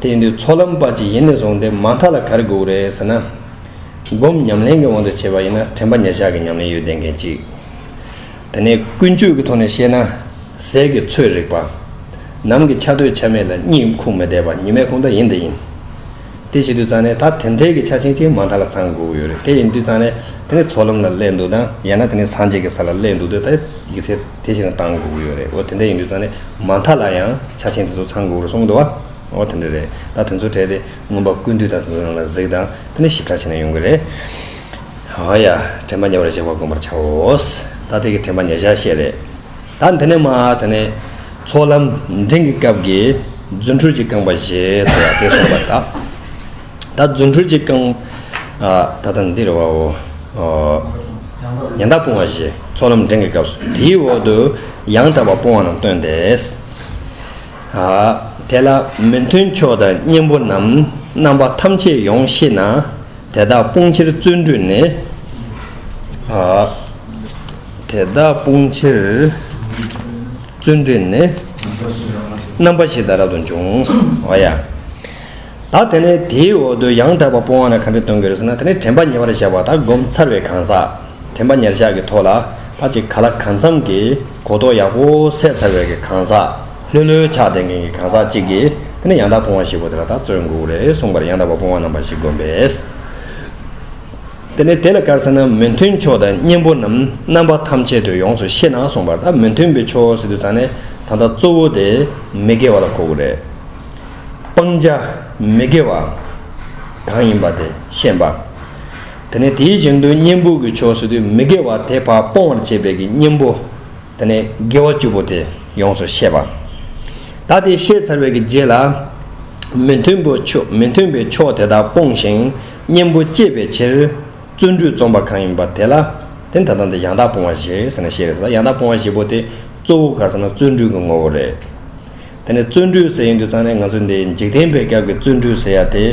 དེ་ཡིན་དུས་ཚོགས་ལམ་དཔའ་གཅིག་ཡིན་ནས་བཟུང་སྟེ་མ་མཐའ་ལ་གར་དགོས་རེད་ཟེར་ན། སྒོམ་ཉམས་ལེན་གྱི་དབང་དུ་བྱས་པ་ཡིན་ན་དྲན་པ་ཉག་ཆགས་ཀྱི་ཉམས་ལེན་ཡོད་བསྡད་མཁན་གཅིག། དེ་ནས་ཀུན་སྤྱོད་ཀྱི་ཐོག་ནས་བཤད་ན། ཟས་ཀྱི་ཚོད་རིག་པ། ནམ་གྱི་ཆ་སྟོད་ཆ་མེད་ལ་གཉིད་ཁུག་མི་བདེ་བ་ཉི་མའི་ཁུང་རྟ་ཡིན་དེ་ཡིན། དེ་བྱེད་དུས་ཙང་ནས་ད་དེ་འཕྲལ་གྱི་ཆ་ཆེན་གཅིག་མ་མཐའ་ལ་ཚང་དགོས་ཀྱི་ཡོད་རེད་དེ་ཡིན་དུས་ཙང་ནས་དེ་ནས་ཚོགས་ལམ་ལ་སླེབས་འདུག་དང་ཡང་ན་དེ་ནས་སངས་རྒྱས་ཀྱི་ས་ལ་སླེབས་འདུག་དེ་ད་ཡིག་ཚད། དེ་བཞིན་ལ་གཏང་དགོས་ཀྱི་ཡོད་རེད་འོ་དེ་འདྲ་ཡིན་དུས་ཙང་ནས་མ་མཐའ་ལ་ཡང་ཆ་ཆེན་དེ་ཚོ་ཚང་དགོས་ཀྱི་རུ་སོང་འདུག་བ་འོ་དེ་འདྲ་རེད་ད་དེ་ཚོ་བྲལ་ཏེ་མངོན་པ་ཀུན་འདུས་དང་དེ་ཚོ་རང་ལ་གཟིགས་དང་དེ་འདྲ་ཞིབ་ཕྲ་བྱས་ན་ཡོང་གི་རེད་ཨོ་ཡ་དྲན་པ་ཉེ་བར་གཞག་པ་དགོངས་པར་བྱའོ། ད་དེ་གི་དྲན་པ་ཉེ་བཞག་བཤད་རེད་ད་འདི་ནས་མ་དེ་ནས་ཚོགས་ལམ་འབྲིང་གི་སྐབས་ཀྱི་རྫུ་འཕྲུལ་གྱི་རྐང་པ་བཞེས་སོ་ཡ་དེ་སོང་བ་ད། ད་རྫུ་འཕྲུལ་གྱིས་བསྐང། ད་ལྟ་འདིར་བ་བོ། ཡང་དག་སྤོང་བ་བཞི། ཚོགས་ལམ་འབྲིང་གི་སྐབས་སུ། དེའི་འོག་ཏུ། ཡང་དག་པ་སྤོང་བ་རྣམས་སྟོན་ཏེ། དེ་ལ་མི་མཐུན་ཕྱོགས་དང་གཉེན་པོ་རྣམས། རྣམ་པ་ཐམས་ཅད་ཡོངས་ཤེས་ན། དེ་དག་སྤོང་ཕྱིར་བརྩོན་འགྲུས་ནི། དེ་དག་སྤོང་ཕྱིར་བརྩོན་འགྲུས་ནི། རྣམ་པ་བཞི་དང་རབ་ཏུ་འབྱུང། ད་དེ་ནས་དེའི་འོག་ཏུ་ཡང་དག་པར་སྤོང་བ་ན་གང་དུ་གཏོང་གི་རེད་ཟེར་ན་དེ་ནི་དྲན་པ་ཉེ་བར་བཞག་པ་དང་བསྒོམ་ཚར་བའི་གང་ཟག་དྲན་པ་ཉེར་བཞག་གི་ཐོག་ལ་ཕ་གཅིག་ག་ལ་གང་འཚམ་གྱི་གོ་རྟོགས་ཡག་པོ་སད་ཚར་བའི་གི་གང་ཟག་ལྷོད་ལྷོད་ཆགས་ལྡན་མཁན་གྱི་གང་ཟག་གཅིག་གིས་དེ་ནི་ཡང་དག་སྤོང་བ་ཞིག་གོ་དེ་ལ་དག་བརྩོན་དགོས་རེད་གསུངས་པར་ཡང་དག་པར་སྤོང་བ་རྣམ་པ་ཞིག་བསྒོམ་པས། དེ་ནས་དེ་ལ་དཀར་ཟེར་ན་མི་མཐུན་ཕྱོགས་དང་གཉེན་པོ་རྣམས་རྣམ་པ་ཐམས་ཅད་དུ་ཡོངས་སུ་ཤེས་ན་གསུངས་པར་ད་མི་མཐུན་པའི་ཕྱོགས་ཟེར་དུས་ད་ནི་ད་ལྟ་གཙོ་བོ་དེ་མི་དགེ་བ་ལ་གོ་དགོས་རེད། སྤང་བྱ་མི་དགེ་བ་གང་ཡིན་པ་དེ་ཤེས་པ། དེ་ནས་དེའི་བཞིན་དུ་གཉེན་པོ་གྱི་ཕྱོགས་སུ་དུས་མི་དགེ་བ་དེ་བར་སྤོང་བར་བྱེད་པའི་གཉེན་པོ་དེ་ནས་དགེ་བ་བཅུ་པོ་དེ་ཡོངས་སུ་ཤེས་པ། ད་དེ་ཤེས་ཚར་བའི་རྗེས་ལ། མི་མཐུན་པའི་ཕྱོགས་དེ་དག་སྤོང་ཞིང་གཉེན་པོ་བསྐྱེད་པའི་ཕྱིར། བརྩོན་འགྲུས་རྩོམ་པ་གང་ཡིན་པ་དེ་ལ་དེ་ད་དང་དེ་ཡང་དག་སྤོང་བ་ཞེས་ཟེར་ན་ཤེས་རེད། ཡང་དག་སྤོང་བ་བཞི་པོ་དེ་གཙོ་བོ་ག་ཟེར་ན་བརྩོན་འགྲུས་ཀྱི་ངོ་བོ་རེད། དེ་ནས་བརྩོན་འགྲུས་ཟེར་ཡོང་དུས་ཚང་ནས་ང་ཚོས་འདི་འཇིག་རྟེན་པའི་སྐབས་ཀྱི་བརྩོན་འགྲུས་ཟེར་ཡ་དེ་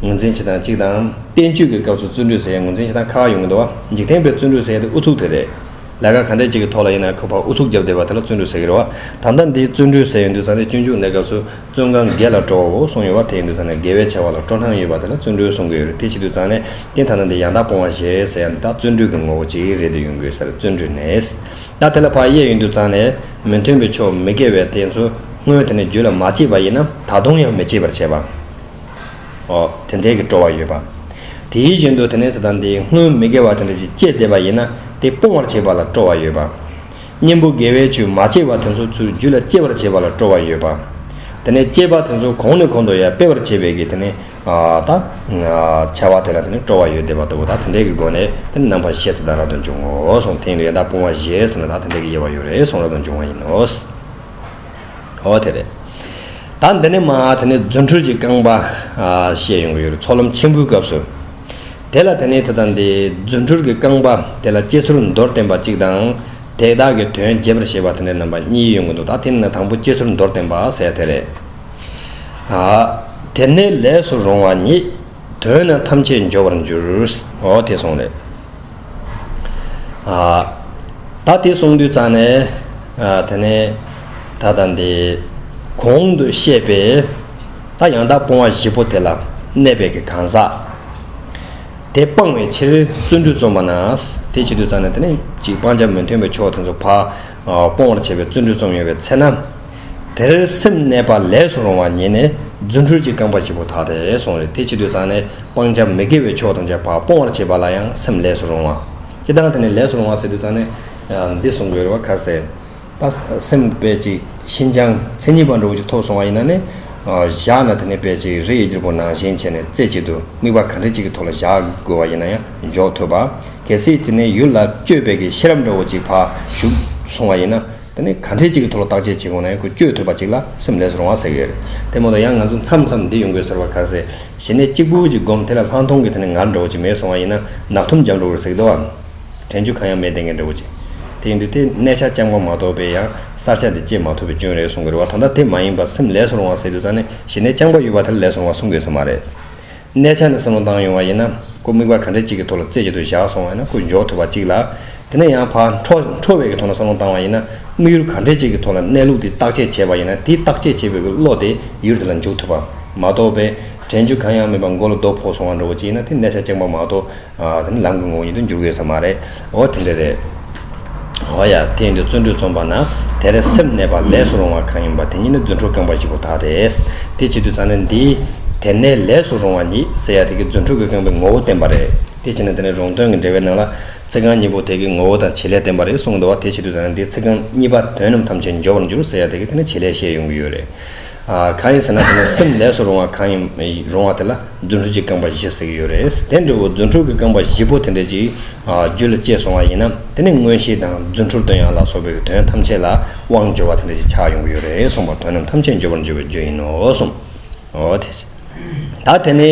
ངོས་འཛིན་བྱེད་སྟངས་གཅིག་དང། བསྟན་བཅོས་ཀྱི་སྐབས་སུ་བརྩོན་འགྲུས་ཟེར་ཡ་ངོས་འཛིན་བྱེད་སྟངས་ཁ་ཁ་ཡོང་གི་འདུག་བ། འཇིག་རྟེན་པའི་བརྩོན་འགྲུས་ཟེར་ཡ་དེ་ཨུ་ཚུགས་དེ་རེད། ལས་ཀ་ག་འདྲས་ཅིག་གི་ཐོག་ལ་ཡིན་ན་ཁོས་ཕར་ཨུ་ཚུགས་བརྒྱབ་བསྡད་པ་དེ་ལ་བརྩོན་འགྲུས་ཟེར་གི་རེད་བ། ད་ལྟ་འདི་བརྩོན་འགྲུས་ཟེར་ཡོང་དུས་ཚང་ནས་སྤྱོད་འཇུག་གནས་སྐབས་སུ་བརྩོན་གང་དགེ་ལ་སྤྲོ་བའོ་གསུངས་ཡོང་བ་དེ་ཡིན་དུས་ཚང་ནས་དགེ་བའི་བྱ་བ་ལ་སྤྲོ་སྣང་ཡོད་པ་དེ་ལ་བརྩོན་འགྲུས་གསུངས་གི་ཡོད་རེད་དེ་བྱེད་དུས་ཚང་ནས་ཀྱེ་ད་ལྟ་འདི་ཡང་དག་སྤོང་བ་ཞེས་ཟེར་ཡ་འདི་དག་བརྩོན་འགྲུས་ཀྱི་ངོ་བོ་གཅིག་རེད་འདོད་ཡོང་གི་ཟེར་བརྩོན་འགྲུས་ནས། ད་དེ་ལ་བག་ཡས་ཡུན་དུ་བརྩང་ནས་མི་མཐུན་པའི་ཕྱོགས་མི་དགེ་བའི་དེ་ཚོ་སྔོན་དེ་ནས་རྒྱུད་ལ་མ་སྐྱེས་པ་ཡིན་ནམ་ད་དུང་ཡང་མི་སྐྱེད་པར་བྱེད་པ། ཨོ། དེ་འདྲའི་གི་སྤྲོ་བ་ཡོད་པ། དེའི་བཞིན་དུ་དེ་ནས་དེ་དང་དེའི་སྔོན་མི་དགེ་བ་དེ་འདྲ་ཞིག་སྐྱེས་བསྡད་པ་ཡིན་ན་དེ་སྤོང་བར་བྱེད་པ་ལ་སྤྲོ་བ་ཡོད་པ། གཉེན་པོ་དགེ་བའི་ཆོས་མ་སྐྱེས་པ་དེ་ཚོ་ཚུར་རྒྱུད་ལ་སྐྱེད་པར་བྱེད་པ་ལ་སྤྲོ་བ་ཡོད་པ། དེ་ནས་སྐྱེས་པ་དེ་ཚོ་གོང་ནས་གོང་དུ་ཡང་སྤེལ་བར་བྱེད་པས་ཀྱི་དེ་ནས། དང། འཆལ་བ་དེ་ལ་དེ་ནི་སྤྲོ་བ་ཡོད་བདེ་བ་ལྟ་བུ་དང་དེ་འདྲའི་གི་སྒོ་ནས་དེ་ནི་རྣམ་པར་ཤེས་ཚོད་དང་རབ་ཏུ་འབྱུང་ངོ། གཟུང་ཐིང་ལས་དང་སྤོང་བ་ཞེས་གསུངས་པ་དང་དེ་འདྲའི་གི་དབྱེ་བ་ཡོད་རེ་གསུངས་རབ་ཏུ་འབྱུང་བ་ཡིན་ནོ། འོ་དེ་རེད། ད་འདི་ནས་མ་དེ་ནི་རྫུ་འཕྲུལ་གྱི་རྐང་པ། ཞེས་ཡོང་གི་ཡོད་རེད་ཚོགས་ལམ་ཆེན་པོའི་སྐབས་སུ། དེ་ལ་དེ་ནི་དེ་དང་དེའི་རྫུ་འཕྲུལ་གྱི་རྐང་པ་དེ་ལ་སྐྱེ་ཚུལ་མདོར་བསྟན་པ་གཅིག་དང། དེ་དག་གི་དོན་རྒྱས་པར་བཤད་པ་དེ་འདྲའི་རྣམ་པ་གཉིས་ཡོང་གི་འདུག་ད་དེ་ནི་ན་དང་པོ་སྐྱེ་ཚུལ་མདོར་བསྟན་པ་ཟེར་ཡ་དེ་རེད། དེར་ནི་ལས་སུ་རུང་བ་ཉིད། དོན་རྣམས་ཐམས་ཅད་འབྱོར་བར་འགྱུར། འོ་དེ་གསུངས་ནས། ད་དེ་གསུངས་དུས་ཙང་ནས། དེ་ནས་ད་ལྟ་འདི། གོང་དུ་བཤད་པའི། ད་ཡང་དག་སྤོང་བ་བཞི་པོ་དེ་ལ། གནས་པའི་གི་གང་ཟག། དེ་སྤང་བའི་ཕྱིར་བརྩོན་འགྲུས་རྩོམ་པ་ན། དེ་བྱེད་དུས་ཙང་ནས་དེ་ནི། གཅིག་སྤང་བྱ་མི་མཐུན་པའི་ཕྱོགས་དེ་ཚོ་བག། སྤོང་བར་བྱེད་པའི་བརྩོན་འགྲུས་རྩོམ་ཡོང་བའི་ཚེ་ན། དེར་སེམས་གནས་པ་ལས་སུ་རུང་བ་ཉིད་ནི་རྫུ་འཕྲུལ་གྱི་རྐང་པ་གཅིག་པུ་དག་སྟེ་གསུངས་རེ་ཐེ་ཅི་དུས་བཟང་ནས་སྤང་བྱ་མི་དགེ་བའི་ཕྱོགས་ཐམས་ཅད་པ་སྤོང་བར་བྱེད་པ་ལ་ཡང་སེམས་ལས་སུ་རུང་བ། སྤྱི་བདག་དེ་ནི་ལས་སུ་རུང་བ་ཟེར་དུས་བཟང་ནས་འདི་གསུངས་དགོས་རེ་བ་ག་ཟེ། ད་སེམས་དཔེ་ཅིག་ཤིན་སྦྱངས་མཚན་ཉིད་པ་འགྲོ་འོང་གྱི་ཐོབ་སོང་བ་ཡིན་ན་ནི། བཞག་ན་དེ་ནི་དཔེ་ཅིག་རེ་ཡི་རྒྱུར་པོ་ནང་བཞིན་བྱས་ནས་རྩེ་གཅིག་ཏུ་དམིགས་པ་གང་དྲན་གཅིག་གི་ཐོག་ལ་བཞག་དགོས་བ་ཡིན་ན་ཡང། འཇོག་ཐུབ་པ། གལ་སྲིད་དེ་ནས་ཡུལ་ལ་བསྐྱོད་དཔེ་གི་ཤེས་རབ་འདྲ་བོ་ཅིག་ཕར་ཞུགས་སོང་བ་ཡིན་ན། དེ་ནི་གང་འཕྲལ་ཅིག་གི་ཐོག་ལ་བརྟག་དཔྱད་བྱེད་ཁོ་ནས་ཁོ་བསྐྱོད་ཐུབ་པ་ཅིག་ལ་སེམས་ལེགས་སུ་རུང་བ་ཟེར་གྱི་ཡོད་རེད། དེ་མ་གཏོགས་ཡང་ང་ཚོ་མཚམས་མཚམས་འདི་ཡོང་དགོས་ཟེར་བ་ག་ཟེ། གཞི་ནས་གཅིག་པུ་ཅིག་བསྒོམས་དེ་ལ་ལྷག་མཐོང་གི་དེ་ནས་ངར་འདྲ་བོ་ཅིག་མེད་སོང་བ་ཡིན་ན་ནག་ཐུམ་འཇམ་འགྲོ་གི་རེད་ཟེར་གི་འདུག་ཨང། དྲན་རྒྱུ་གང་ཡང་མེད་ལྟས་ངན་འདྲ་བོ་ཅིག་དེ་ཡིན་དུས་དེ་གནས་ཆ་ལྕམ་གང་མ་གཏོགས་པའི་ཡང་གསར་ཆ་དེ་སྐྱེས་མ་ཐུབ་པའི་སྐྱོན་རེད་གསུང་གི་རེད་བ་ད་ལྟ་དེ་མ་ཡིན་པར་སེམས་ལེགས་སུ་རུང་བ་ཟེར་དུས་ཙང་ནས་གཞི་ནས་ལྕམ་གང་ཡོད་པ་དེ་ལ་ལེགས་སུ་རུང་བ་གསུང་དགོས་ས་མ་རེད། གནས་ཆ་ནས་བསམ་བློ་བཏང་ཡོང་བ་ཡིན་ན། སྐུ་དམིགས་པ་ག་འདྲ་གཅིག་གི་ཐོག་ལ་རྩེ་གཅིག་ཏུ་བཞག་སོང་བ་ཡིན་ན་སྐུ་འཇོག་ཐུབ་པ་གཅིག་ལ། དེ་ནས་ཡང་བར་འཕྲོ་འཕྲོ་བའི་གི་ཐོག་ལ་བསམ་བློ་བཏང་བ་ཡིན་ན། དམིགས་ཡུལ་ག་འདྲ་གཅིག་གི་ཐོག་ལ་གནས་ལུགས་དེ་བརྟག་དཔྱད་བྱས་པ་ཡིན་ན་དེ་བརྟག་དཔྱད་བྱས་པའི་གི་བློ་དེ་ཡུལ་དེ་ལ་འཇུག་ཐུབ་པ་མ་གཏོགས་པའི། དྲན་རྒྱུ་གང་ཡང་མེད་པར་མགོ་ལ་རྡོ་ཕོག་སོང་བ་འདྲ་བོ་གཅིག་ཡིན་ན་དེ་གནས་ཆ་རྐྱང་པ་མ་གཏོགས། དེ་ནི་ལམ་གྱི་ངོ་བོ་ཉིད་དུ་འགྱུར་དགོས་ས་མ་རེད། འོ་དེ་འདྲ་རེད། འོ་ཡ། དེ་ཡིན་དུས་བརྩོན་འགྲུས་རྩོམ་པ་ན་དེ་རེད་སེམས་གནས་པ་ལས་སུ་རུང་བ་གང་ཡིན་པ་དེ་ཉིད་ནི་རྫུ་འཕྲུལ་རྐང་པ་བཞི་པོ་དག་རེད། དེ་བྱེད་དུས་ཚང་ནི་འདི། དེ་གནས་ལས་སུ་རུང་བ་ཉིད་ཟེར་ཡ་དེ་གི་རྫུ་འཕྲུལ་གྱི་རྐང་པའི་ངོ་བོ་བསྟན་པ་རེད། དེ་བྱས་ན་དེ་ནི་རུང་དོན་གྱི་འགྲེལ་བའི་ནང་ལ། ཚིག་རྐང་གཉིས་པོ་དེ་གི་ངོ་བོ་དང་བྱེད་ལས་བསྟན་པ་རེད་གསུངས་འདུག་བ་དེ་བྱེད་དུས་ཚང་ནི་འདི་ཚིག་རྐང་གཉིས་པ་དོན་རྣམས་ཐམས་ཅད་འབྱོར་བར་འགྱུར་ཟེར་ཡ་དེ་གི་དེ་ནི་བྱེད་ལས་བཤད་ཡོང་གི་ཡོད་རེད། གང་ཡིན་ཟེར་ན་དེ་ནི་སེམས་ལས་སུ་རུང་བ་གང་ཡིན་རུང་བ་དེ་ལ་རྫུ་འཕྲུལ་གྱི་རྐང་པ་བཞི་ཟེར་གྱི་ཡོད་རེད། དེ་འདྲ་བོ་རྫུ་འཕྲུལ་གྱི་རྐང་པ་བཞི་པོ་དེ་འདྲ་ཅིག་རྒྱུད་ལ་སྐྱེས་སོང་བ་ཡིན་ན་དེ་ནི་མངོན་ཤེས་དང་རྫུ་འཕྲུལ་དོན་ཡང་ལ་སོགས་པའི་དོན་ཐམས་ཅད་ལ་དབང་འབྱོར་བ་དེ་འདྲ་ཅིག་ཆགས་ཡོང་གི་ཡོད་རེད་གསུངས་པ་དོན་རྣམས་ཐམས་ཅད་འབྱོར་པར་འགྱུར་བའི་རྒྱུ་ཡིན་ནོ་གསུངས། ད་དེ་ནི།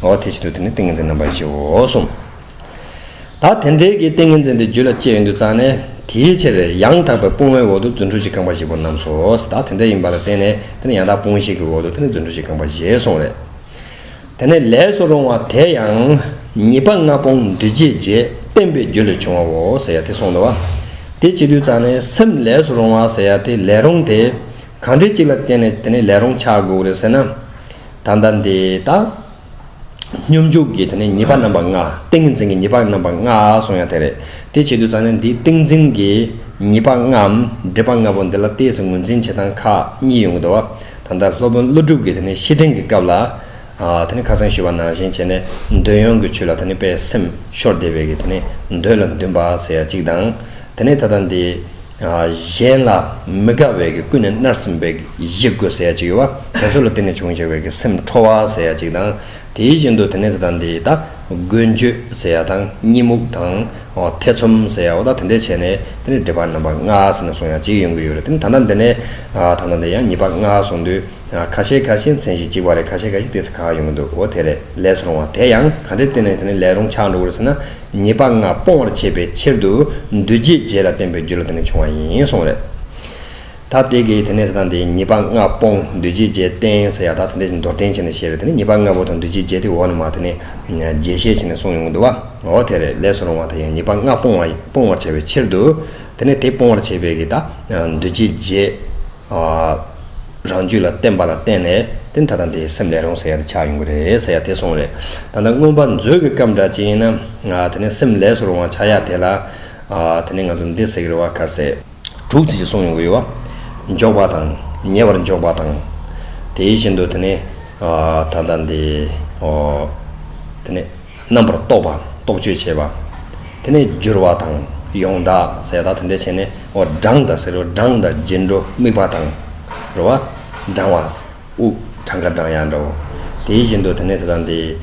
ངོ་བོ་དེ་བཞིན་དུ་དེ་ནི་ཏིང་ངེ་འཛིན་རྣམ་པ་བཞིའོ་གསུངས། ད་དེ་འབྲེལ་གྱི་ཏིང་ངེ་འཛིན་དེ་རྒྱུད་ལ་སྐྱེས་ཡུན་དུ་བརྩམས་ནས་དེའི་ཕྱིར་ཡང་དག་པའི་སྤོང་བའི་འོག་ཏུ་རྫུ་འཕྲུལ་གྱི་རྐང་པ་བཞི་པོ་རྣམས་སོ། ད་དེ་འདྲ་ཡིན་པ་ལ་བརྟེན་ནས་དེ་ནི་ཡང་དག་སྤོང་བྱེད་ཀྱི་འོག་ཏུ་དེ་ནི་རྫུ་འཕྲུལ་གྱི་རྐང་པ་བཞི་གསུངས་རེ། དེ་ནས་ལས་སུ་རུང་བ་དེ་ཡང། ཉིད་པ་ལྔ་སྤོང་འདུས་བྱས་རྗེས་བསྟན་པའི་རྒྱུད་ལས་བྱུང་བའོ་ཟེར་ཡ་དེ་གསུངས་ལ། དེ་བྱེད་དུས་བརྩམས་ནས་སེམས་ལས་སུ་རུང་བ་ཟེར་ཡ་དེ་ལས་རུང་སྟེ། གང་འབྲེལ་གཅིག་ལ་བརྟེན་ནས་དེ་ནི་ལས་རུང་ཆགས་དགོས་རེ་ཟེར་ན། ད་ལྟ་འདི་དང། སྙོམས་འཇུག་གི་དེ་ནས་ཉེས་པ་རྣམ་པ་ལྔ། ཏིང་ངེ་འཛིན་གྱི་ཉེས་པ་རྣམ་པ་ལྔ་གསུངས་ཡང་དེ་རེད། དེ་བྱེད་དུ་ཙམ་ནས་འདིའི་ཏིང་འཛིན་གྱི་ཉེས་པ་ལྔའམ་སྒྲིབ་པ་ལྔ་པོ་འདི་ལ་ལྟས་སུ་ངོས་འཛིན་བྱེད་སྟངས་ཁག་གཉིས་ཡོང་གི་འདུག་ད་ལྟ་སློབ་དཔོན་ཀླུ་སྒྲུབ་ཀྱིས་དེ་ནས་བཤེས་སྤྲིང་གི་སྐབས་ལ། དེ་ནས་ཁ་སང་ཞུས་པ་ནང་བཞིན་བྱས་ནས་འདོད་ཡོན་གྱི་ཆོས་ལ་དེ་ནས་པས་སེམས་ཤོར་བདེ་བས་ཀྱི་དེ་ནས་འདོད་ལ་འདུན་པ་ཟེར་ཡ་གཅིག་དང། དེ་ནས་ད་ལྟ་འདི། གཞན་ལ་མི་དགའ་བའི་ཀུན་ནས་མནར་སེམས་པའི་གཞི་རྒོད་ཟེར་ཡ་གཅིག་ཡོད་པ་དེ་ཚོ་ལ་བརྟེན་ནས་བྱུང་ཞེས་པའི་གི་སེམས་ཁྲོ་བ་ཟེར་ཡ་གཅིག་དང་དེའི་བཞིན་དུ་དེ་ནས་དེ་དང་དེ་ཡི་དང་རྒོད་འགྱོད་ཟེར་ཡ་དང་གཉིད་མུག་དང་ཐེ་ཚོམ་ཟེར་ཡའོ་དང་དེ་འདྲས་བྱས་ནས་དེ་ནས་སྒྲིབ་པ་རྣམ་པ་ལྔ་ཟེར་ནས་གསུངས་ཡ་གཅིག་ཡོང་གི་ཡོད་རེད་དེ་ནས་ད་ལྟ་འདི་ནས་ད་ལྟ་འདི་ཡང་གཉིས་པ་ལྔ་གསུངས་དུས། ཁ་ཤས་ཁ་ཤས་མཚན་གཞི་གཅིག་པ་རེད་ཁ་ཤས་ཁ་ཤས་བལྟས་ས་ཁག་ཡོང་གི་འདུག་འོ་དེ་རེད་ལས་སུ་རུང་བ་དེ་ཡང་ག་འདྲའི་བསྟེན་ནས་དེ་ནི་ལས་རུང་ཆགས་འགྲོ་གི་རེད་ཟེར་ན་ཉེས་པ་ལྔ་སྤོང་བར་བྱེད་པའི་ཕྱིར་དུ་འདུལ་བྱའི་རྗེས་ལ་བསྟན་པའི་རྒྱུ་ལ་དེ་ནི་བྱུང་བ་ཡིན་གསུངས་རེད། ད་དེ་གས་དེ་ནས་ད་ལྟ་འདིའི་ཉེས་པ་ལྔ་སྤོང་འདུལ་བྱའི་རྗེས་བསྟན་ཟེར་ཡག་ད་དེ་འདྲ་ཞིག་མདོར་བསྟན་བྱས་ནས་བཤད་རེད་དེ་ནི་ཉེས་པ་ལྔ་པོ་དང་འདུལ་བྱའི་རྗེས་དེ་འོག་ནས་མ་དེ་ནི་རྒྱས་བཤད་བྱས་ནས་གསུངས་ཡོང་གི་འདུག་བ་འོ་དེ་རེད་ལས་སུ་རུང་བ་དེ་ཡང་ཉེས་པ་ལྔ་སྤོང་བ་སྤོང་བར་བྱ་བའི་ཕྱིར་དུ་དེ་ནི་དེ་སྤོང་བར་བྱེད་པའི་གི་ད་འདུལ་བྱའི་རྗེས། རང་རྒྱུད་ལ་བརྟེན་པ་ལ་བརྟེན་ནས་དེ་ད་དང་དེའི་སེམས་ལས་རུང་ཟེར་ཡག་དེ་ཆགས་ཡོང་གི་རེད་ཟེར་ཡག་དེ་སོང་རེད། ད་ལྟ་མངོན་པ་མཛོད་ཀྱི་སྐབས་འདྲ་ཅིག་ཡིན་ན། དེ་ནས་སེམས་ལས་སུ་རུང་བ་ཆགས་ཡག་དེ་ལ། དེ་ནས་ང་ཚོ་འདི་ཟེར་གི་རེད་བ་གར་ཟེར། དྲུག་ཅིག་ཅིག་གསུངས་ཡོང་གི་ཡོད། འཇོག་པ་དང་ཉེ་བར་འཇོག་པ་དང། དེ་བཞིན་དུ་དེ་ནས་ད་ལྟ་འདི། དེ་ནས། རྣམ་པར་རྟོག་པ་རྟོག་དཔྱོད་བྱེད་པ། དེ་ནས་སྦྱོར་བ་དང་ཡོངས་དག་ཟས་དག་དེ་འདྲས་བྱས་ནས་འོ་སྦྲང་དང་ཟེ་རུ་སྦྲང་དང་རྗེས་འགྲོ་དམིགས་པ་དང། རུ་བ་སྦྲང་བ། དབུགས་གྲངས་ཀ་སྦྲང་ཡང་འདྲའོ། དེ་བཞིན་དུ་དེ་ནས་དེ་དང་དེའི།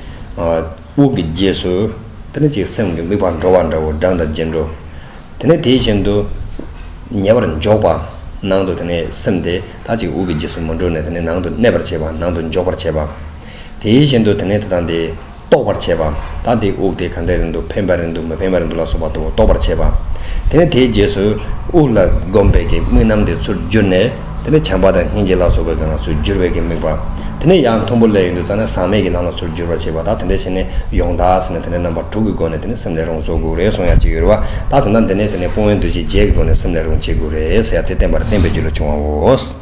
དབུགས་ཀྱི་རྗེས་སུ། དེ་ནི་ཅིག་སེམས་ཀྱི་དམིགས་པ་འགྲོ་བ་འདྲའོ་སྦྲང་དང་རྗེས་འགྲོ། དེ་ནས་དེ་བཞིན་དུ། ཉེ་བར་འཇོག་པ། ནང་དུ་དེ་ནས་སེམས་དེ་དག་ཅིག་དབུགས་ཀྱི་རྗེས་སུ་མ་འགྲོ་ནས་དེ་ནས་ནང་དུ་གནས་པར་བྱེད་པ་ནང་དུ་འཇོག་པར་བྱེད་པ། དེའི་བཞིན་དུ་དེ་ནས་དེ་དང་དེ། རྟོགས་པར་བྱེད་པ། ད་དེའི་དབུགས་དེ་གང་འདྲའི་རིང་དུ་འཕེན་པར་རིང་དུ་མི་འཕེན་པར་རིང་དུ་ལ་སོགས་པ་ལྟ་བུ་རྟོགས་པར་བྱེད་པ། དེ་ནས་དེའི་རྗེས་སུ། དབུགས་ལ་གོམས་པའི་གི་དམིགས་རྣམ་དེ་ཚུར་བསྒྱུར་ནས། དེ་ནས་བྱམས་པ་དང་སྙིང་རྗེ་ལ་སོགས་པའི་གང་ལ་ཚུར་བསྒྱུར་བའི་གི་དམིགས་པ། དེ་ནས་ཡང་མཐོན་པོ་ལས་ཡུན་དུ་བཙལ་ནས་ཟག་མེད་ཀྱི་ལམ་ལ་ཚུར་བསྒྱུར་བར་བྱེད་པ་དག་དེ་འདྲའི་ཕྱིར་ནི་ཡོངས་དག་ཟེར་ནས་དེ་འདྲའི་རྣམ་པ་དྲུག་གི་སྒོ་ནས་དེ་ནི་སེམས་ལས་རུང་སོགས་དགུ་རེ་གསུངས་ཡང་ཅི་ཡོད་རེ་བ་དག་དོན་དམ་དེ་ནི་དེ་ནི་སྤོང་བའི་འདུ་བྱེད་བརྒྱད་ཀྱི་སྒོ་ནས་སེམས་ལས་རུང་བྱེད་དགུ་རེ་ཟེར་ཡང་དེ་བསྟན་པར་བསྟན་པའི་རྒྱུ་ལས་བྱུང་བའོ།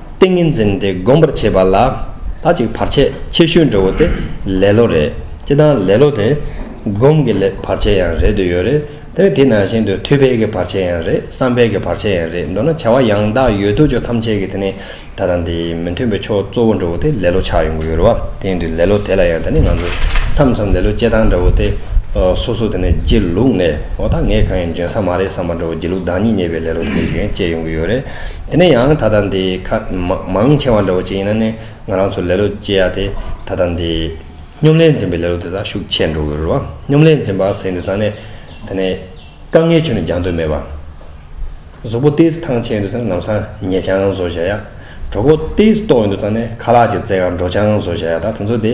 ཏིང་ངེ་འཛིན་དེ་སྒོམ་པར་བྱེད་པ་ལ་དག་ཅིག་བར་ཆད་ཆེ་ཤོས་འདྲ་བོ་དེ་ལེ་ལོ་རེད། སྤྱིར་བཏང་ལེ་ལོ་དེ་སྒོམ་གྱི་བར་ཆད་ཡང་རེད་འདོད་ཡོད་རེད། དེ་ནི་དེ་ནང་བཞིན་དུ་ཐུགས་ཕལ་གྱི་བར་ཆད་ཡང་རེད་བསམ་ཕལ་གྱི་བར་ཆད་ཡང་རེད་མདོར་ན་བྱ་བ་ཡང་དག་ཡོད་དོ་ཅོག་ཐམས་ཅད་ཀྱི་དེ་ནི་ད་དང་དེ་མི་མཐུན་པའི་ཕྱོགས་གཙོ་བོ་འདྲ་བོ་དེ་ལེ་ལོ་ཆགས་ཡོང་གི་ཡོད་རེད་བ། དེ་ཡིན་དུས་ལེ་ལོ་དེ་ལ་ཡང་དེ་ནི་ང་ཚོས་མཚམས་མཚམས་ལེ་ལོ་བཅད་སྟངས་འདྲ་བོ་དེ་སོ་སོ་དེ་ནི་སྒྱིད་ལུག་ནས་འོ་ད་ངས་གང་ཡང་འཇོན་ས་མ་རེད་བསམ་པ་འདྲ་བོ་སྒྱིད་ལུག་བདག་ཉིད་ཉེས་པའི་ལེ་ལོ་དེ་འདྲ་ཞིག་ཡང་བཅད་ཡོང་གི་ཡོད་རེད། དེ་ནས་ཡང་ད་ལྟ་འདི་ཁ་མང་ཆེ་བ་འདྲ་བོ་ཅིག་ཡིན་ན་ནི་ང་རང་ཚོ་ལེ་ལོ་སྐྱེ་ཡ་དེ་ད་ལྟ་འདི་སྙོམ་ལས་འཛིན་པའི་ལེ་ལོ་དེ་དག་ཤུགས་ཆེ་འགྲོ་གི་རུ་བ་སྙོམ་ལས་འཛིན་པ་ཟེར་འདོད་ཙང་ནི་དེ་ནི་དཀའ་ངལ་ཆུ་ནི་རྒྱང་འདོད་མེད་པ། གཟུགས་པོ་ལྟས་སུ་ཐང་ཆད་འདོད་ཙང་ནམ་སང་ཉལ་ཆང་བཟོ་བཞག་ཡ། གྲོགས་པོ་ལྟས་སུ་ལྟོགས་ཡོད་འདོད་ཙང་ནི་ཁ་ལག་ཅིག་བཙལ་ཡང་འགྲོ་ཆང་བཟོ་བཞག་ཡ་དག་དེ་ཚོ་དེ།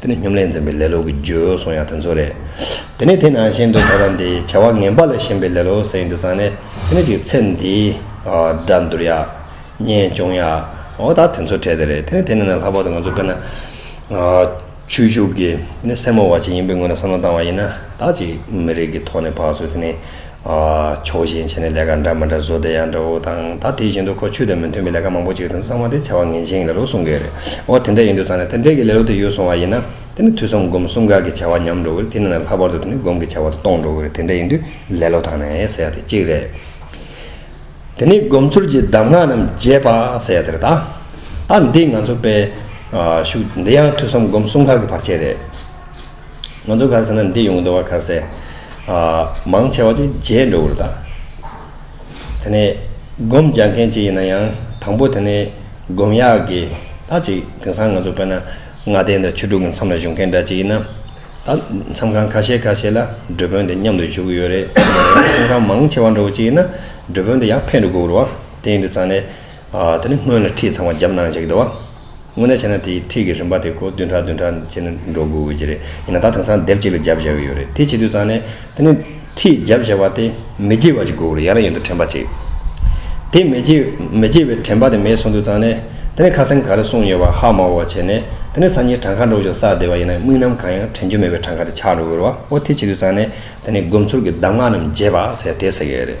དེ་ནི་སྙོམ་ལས་འཛིན་པའི་ལེ་ལོ་གི་རྒྱུ་སོང་ཡང་དེ་ཚོ་རེད། དེ་ནི་དེ་ནང་བཞིན་དུ་ད་དང་དེའི་བྱ་བ་ངན་པ་ལ་ཞེན་པའི་ལེ་ལོ་ཟེར་ཡིན་དུ་ཙང་ནས་དེ་ནི་ཅིག་ཚེ་འདི་འདྲ་འདུར་ཡག། གཉེན་སྐྱོང་ཡག་འོ་ད་དེ་ཚོ་བྲལ་ཏེ་རེད་དེ་ནི་དེ་ནི་ན་ལྷག་པར་དུ་ང་ཚོ་དཔེར་ན། ཆོས་ཞུགས་ཀྱི་དེ་ནི་སེར་མོ་བ་ཅིག་ཡིན་པའི་ངོས་ནས་བསམ་བློ་བཏང་བ་ཡིན་ན་ད་ཅིག་མི་རིགས་ཀྱི་ཐོག་ནས་བག་ཚོས་དེ་ནི་ཕྱོགས་ཞེན་བྱས་ནས་ལས་ཀ་འདྲ་མི་འདྲ་བཟོ་བསྡད་ཡག་འདྲ་བོ་དང་ད་དེ་བཞིན་དུ་ཁོ་ཆོས་དང་མི་མཐུན་པའི་ལས་ཀ་མང་པོ་བྱེད་དོན་གཙང་མ་དེ་བྱ་བ་ངན་ཅན་གྱི་ལས་ལོ་གསུང་གི་རེད་འོ་དེ་འདྲ་ཡིན་དུས་ཚང་ནས་དེ་འདྲའི་གི་ལས་ལོ་དེ་ཡོད་སོང་བ་ཡིན་ན་དེ་ནི་དུས་གསུམ་སྒོམ་གསུམ་ག་གི་བྱ་བ་ཉམས་འགྲོ་གི་རེད་དེ་ནི་ནས་ལྷག་པར་དུ་དེ་ནི་སྒོམ་གི་བྱ་བ་དེ་སྟོང་འགྲོ་གི་རེད་དེ་འདྲ་ཡིན་དུས་ལས་ལོ་དང་ནས་ཟེར་ཡག་དེ་གཅིག་རེད། དེ་ནས་སྒོམ་ཚུལ་གྱི་གདམས་ངག་རྣམས་རྒྱས་པ་ཟེར་ཡག་དེ་རེད་ད། ད་འདི་ང་ཚོ་པས་ཤུགས་འདི་ཡང་དུས་གསུམ་སྒོམ་གསུམ་ག་གི་བར་ཆད་རེད། ང་ཚོ་གར་ཟེར་ན་འདི་ཡོང་གི་འདུག་བ་གར་ཟེར། མང་ཆེ་བ་ཅིག་རྗེས་འགྲོ་གི་འདུག་ད། དེ་ནས་སྒོམ་རྒྱག་མཁན་ཅིག་ཡིན་ན་ཡང་དང་པོ་དེ་ནས་སྒོམ་ཡག་གི་ད་ཅིག་དེང་སང་ང་ཚོ་དཔེར་ན་ལྔ་ལྡན་དང་ཆོས་དྲུག་གི་མཚམས་ལ་བཞུགས་མཁན་འདྲ་ཅིག་ཡིན་ན། ད་མཚམས་ཁང་ཁ་ཤས་ཁ་ཤས་ལ་འགྲུལ་དཔོན་དེ་མཉམ་དུ་བཞུགས་གི་ཡོད་རེད། མཚམས་ཁང་མང་ཆེ་བ་འགྲོ་གི་ཅིག་ཡིན་ན་འགྲུལ་དཔོན་དེ་ཡར་འཕེན་འགྲོ་དགོས་གི་འདུག་བ། དེ་ཡིན་དུ་ཙང་ནས། དེ་ནས་སྔོན་ལ་ཁྲིད་ཚང་བ་རྒྱབ་གནང་བྱེད་ཀྱི་འདུག་བ། དངོས་གནས་བྱས་ན་དེའི་འཁྲིས་ཀྱི་རིམ་པ་དེ་གོ་བདུན་ཕྲག་བདུན་ཕྲག་བྱས་ན་འགྲོ་དགོས་དགོས་ཀྱི་རེད། ཡིན་ན་ད་དེང་སང་དེབ་གཅིག་ལ་བརྒྱ་བཞག་གི་ཡོད་རེད། དེ་བྱེད་དུས་ཙང་ནས་དེ་ནི་འཁྲིས་བརྒྱ་བཞག་པ་དེ་མི་བརྗེད་པ་ཅིག་དགོས་རེད་ཡང་ན་ཡོད་དོ་དྲན་པ་ཅིག། དེ་མི་བརྗེད་མི་བརྗེད་པའི་དྲན་པ་དེ་མེད་སོང་དུས་ཙང་ནས་དེ་ནི་ཁ་སེམས་ག་རེ་གསུངས་ཡོད་པ་ཧ་མ་བོ་བ་བྱས་ནས་དེ་ནི་སང་ཉིན་བྲང་ཁ་འགྲོ་ཞོག་བསགས་བསྡད་པ་ཡིན་ན་དམིགས་རྣམ་གང་ཡང་དྲན་རྒྱུ་མེད་པའི་བྲང་ཁ་དེ་ཆག་འགྲོ་གི་རེད་བ་འོ་དེ་བྱེད་དུས་ཙང་ནས་དེ་ནི་སྒོམ་ཚུལ་གྱི་གདམས་ངག་རྣམས་བརྗེད་པ་ཟེར་དེ་ཟེར་གི་ཡོད་རེད།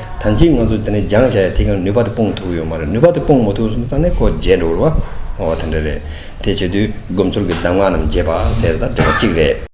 ད་ལྕི་ང་ཚོ་དེ་ནས་སྦྱང་བྱ་ཡ་དེ་གང་ནུས་པ་དེ་སྤོང་ཐུབ་ཡོད་མ་རེད་ནུས་པ་དེ་སྤོང་མ་ཐུབ་གསུམ་ཙང་ནས་ཁོ་བརྗེད་འགྲོ་རུ་བ་དེ་འདྲ་རེད། དེ་བྱེད་དུས་སྒོམ་ཚོར་གྱི་གདམས་ངག་རྣམས་བརྗེད་པ་ཟེར་ད་འདྲ་བ་གཅིག་རེད།